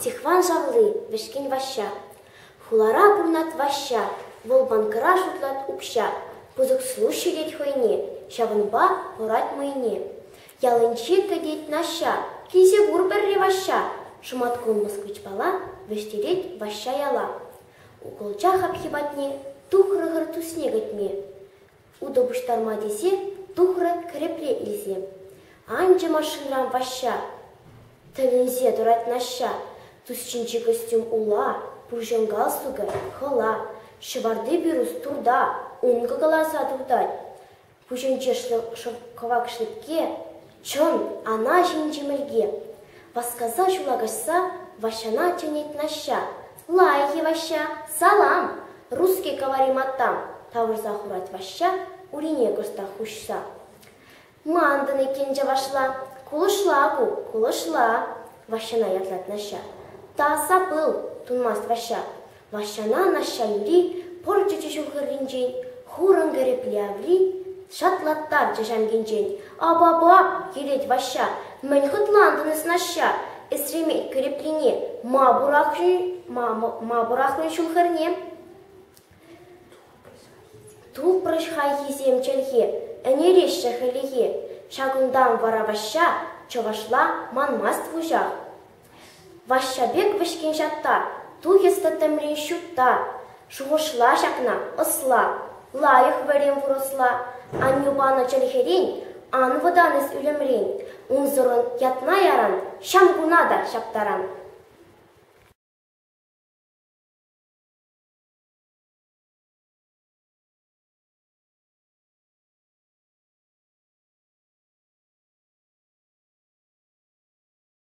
Стихван шавли — вӗҫкӗн Ваҫҫа. Хулара пурӑнать Ваҫҫа, вӑл банкӑра шутлать укҫа. Пысӑк служщик ҫитет хӑйне, ҫавӑнпа хӑрать мӑйне. Ялӗнче кӗтет Наҫҫа, килсе кур пӗрре Ваҫҫа. Шӑматкун москвичпала вӗҫтерет Ваҫҫа яла. Укӑлча хапхи патне тухрӑ-хӑр тусне кӗтме. Утӑ пуҫтарма тесе тухрӗ кӗрепре илсе. Анчӗ машинран Ваҫҫа. Тӗлӗнсе тӑрать Наҫҫа. Тусчинчи костюм ула, пуҫӑн галстукӗ хӑла, ҫӑварти пирус турта, ункӑ кӑларса туртать. Пуҫӗнче шӑл кӑвак шлепке, Чӑн, ана ҫинчи мӗлке! васкаса ҫула каҫса Ваҫҫана чӗнет Наҫҫа. Лайӑх-и, Ваҫҫа? Салам! Русский говори матам! тавӑрса хурать Ваҫҫа, урине кӑштах хуҫса. Мантӑн иккен чӑвашла. Кулӑшла ку, кулӑшла! Ваҫҫана ятлать Наҫҫа. Та сапыл! тунмасть Ваҫҫа. Ваҫҫана Наҫҫанри пӑр чӗчӗ ҫухӑрринчен, хурӑн кӗрӗкле аври шатлаттарчӗ ҫамкинчен. «Апапа!» тет Ваҫҫа. «Мӗн хӑтлантӑн эс, Наҫҫа? Эсремей кӗреплине ма пӑрахнӑ ҫул-хӗрне?» Тупрӗҫ хайхисем чӗлхе, ӗнереҫҫӗ хӗлӗхе. Ҫакӑнтан вара Ваҫҫа чӑвашла манмасть вуҫах. Ваҫҫа пек вӗҫкен ҫатта, тухӑҫлӑ тӗмрен ҫутта. Шухӑшла ҫакна, ӑсла. Лайӑх вӗрем вырӑсла. Аннӳ панӑ чӗлхерен ан вӑтан эс ӳлӗмрен. Унсӑрӑн ятна яран, ҫам куна та ҫаптаран.